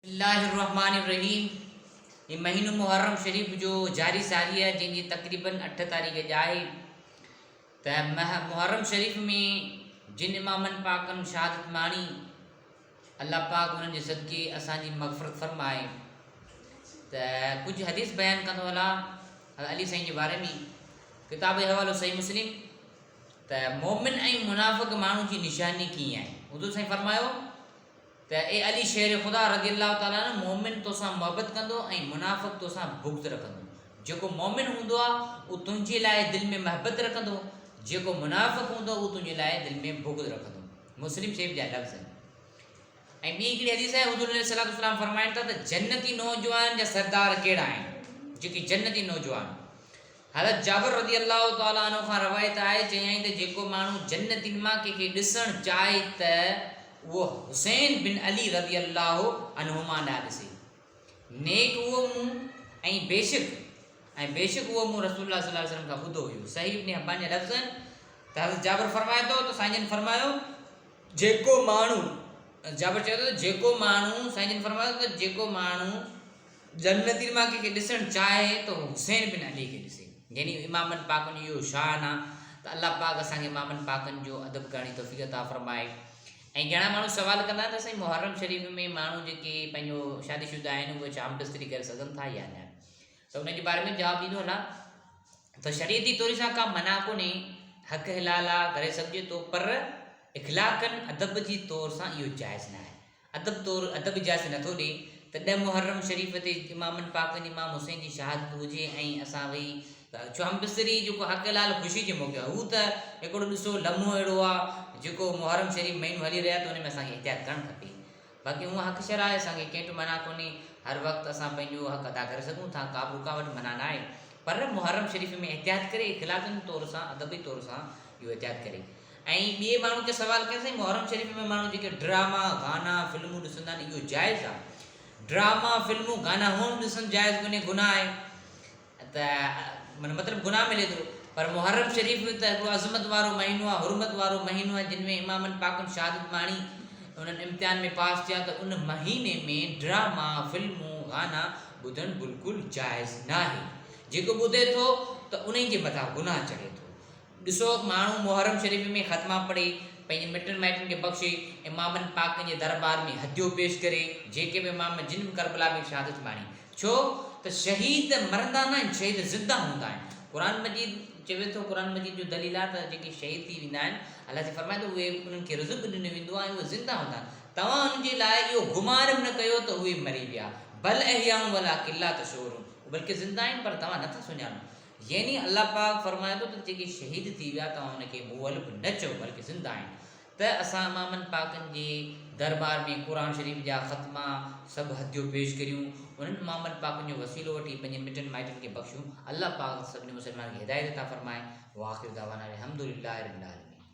الله الرحمٰن الرحيم هي مهينو محرم شريف جو جاري ساري آهي جنهن جي تقريباً اٺ تاريخ جا آهي ته محرم شريف ۾ جن امامن پاڪن شهادت ماڻي الله پاڪ انهن جي صدقي اسان جي مغفرت فرمائي ته ڪجهه حديث بيان ڪندو هلا علي سائين جي باري ۾ ڪتاب جو حوالو صحيح مسلم ته مومن ۽ منافق ماڻهو جي نشاني ڪيئن آهي اردو سائين فرمايو ته اي علي شير خدا رضي الله تعالٰي عنه مؤمن توسان محبت ڪندو ۽ منافق توسان بغض رکندو. جيڪو مؤمن هوندو آهي اهو تنهنجي لاء دل ۾ محبت رکندو، جيڪو منافق هوندو اهو تنهنجي لاء دل ۾ بغض رکندو. مسلم شريف جا لفظ آهن. ۽ ٻي هڪڙي حديث آهي حضور عليه الصلوة والسلام فرمائن ٿا ته جنتي نوجوانن جا سردار ڪهڙا آهن؟ جيڪي جنتي نوجوان. حضرت جابر رضي الله تعالٰي عنه کان روايت آهي، چيائين ته جيڪو ماڻهو جنتين مان ڪنهن کي ڏسڻ چاهي ته اهو حسين بن علي رضي الله عنهما ڏانهن ڏسي. نيڪ اهو مون ۽ بيشڪ ۽ بيشڪ اهو مون رسول الله صلي الله عليه وسلم کان ٻڌو هيو. صحيح ابن حبان جا لفظ آهن ته حضرت جابر فرمائي ٿو ته سائين جن فرمايو جيڪو ماڻهو جابر چوي ٿو ته جيڪو ماڻهو سائين جن فرمايو ته جيڪو ماڻهو جنگ نذير مان ڪنهن کي ڏسڻ چاهي ته هو حسين بن علي کي ڏسي، يعني امامن پاڪن جو اهو شان آ ته الله پاڪ اسان کي امامن پاڪن جو ادب ڪرڻ جي توفيق عطا فرمائي ۽ گهڻا ماڻهو سوال ڪندا ته سائين محرم شريف ۾ ماڻهو جيڪي پنهنجو شادي شده آهن اهي ڇا همدستري ڪري سگهن ٿا يا نه ته ان جي باري ۾ جواب ڏيندو هلان ته شريعتي طور سان ڪا منع ڪونهي حق حلال آ ڪري سگهجي ٿو پر اخلاقن ادب جي طور سان اهو جائز نه آهي ادب طور ادب اجازت نه ٿو ڏئي ته ڏهه محرم شريف تي امامن پاڪن امام حسين جي شهادت هجي ۽ اسان ويهي چوهان بصري جيڪو حق حلال خوشي جي موقعي هو ته هڪڙو ڏسو لمحو اهڙو آ جيڪو محرم شريف مهينو هلي رهيو آ ته ان ۾ اسان کي احتياط ڪرڻ کپي باقي هونء حق شرع آهي اسان کي ڪنهن ٽي منع ڪونهي هر وقت اسان پنهنجو حق ادا ڪري سگهون ٿا ڪا به رڪاوٽ منع نه آهي پر محرم شريف ۾ احتياط ڪري اخلاقي طور سان ادبي طور سان اهو احتياط ڪري ائين ٻئي ماڻهو کي سوال ڪيائين سائين محرم شريف ۾ ماڻهو جيڪي ڊراما گانا فلمون ڏسندا آهن اهو جائز آهي ڊراما فلمون گانا هونئن به ڏسن جائز ڪونهي گناهه آهي ته معنی مطلب گناهه ملي ٿو پر محرم شريف ته هڪڙو عظمت وارو مهينو آهي حرمت وارو مهينو آهي جن ۾ امامن پاڪن شهادت ماڻي انهن امتحان ۾ پاس ٿيا ته ان مهيني ۾ ڊراما فلمون گانا ٻڌڻ بلڪل جائز ناهي جيڪو ٻڌي ٿو ته انهي جي مٿان گناهه چڙهي ٿو ڏسو، ماڻهو محرم شريف ۾ ختما پڙهي، پنهنجن مٽن مائٽن کي بخشي، امامن پاڪن جي دربار ۾ هديو پيش ڪري، جيڪي به امام جن به ڪربلا ۾ شهادت ماڻي، ڇو ته شهيد مرندا ناهن، شهيد زنده هوندا آهن، قرآن مجيد چوي ٿو، قرآن مجيد جو دليل آهي ته جيڪي شهيد ٿي ويندا آهن، الله جي فرمان ته اهي انهن کي رزق ڏنو ويندو آهي ۽ اهي زنده هوندا آهن، توهان انهن جي لاء اهو گمان به نه ڪيو ته اهي مري ويا، بل احياء ولٰڪن لا تشعرون، اهي بلڪه زنده آهن پر توهان نه ٿا سڃاڻو. يعني الله پاڪ فرمائي ٿو ته جيڪي شهيد ٿي ويا توهان ان کي مؤلف نه چئو بلڪه زنده آهن ته اسان امامن پاڪن جي دربار ۾ قرآن شريف جا ختما سڀ هديو پيش ڪريون انهن امامن پاڪن جو وسيلو وٺي پنهنجي مٽن مائٽن کي بخشون الله پاڪ سڀني مسلمانن کي هدايت عطا فرمائي واخر دعوانا الحمدلله رب العالمين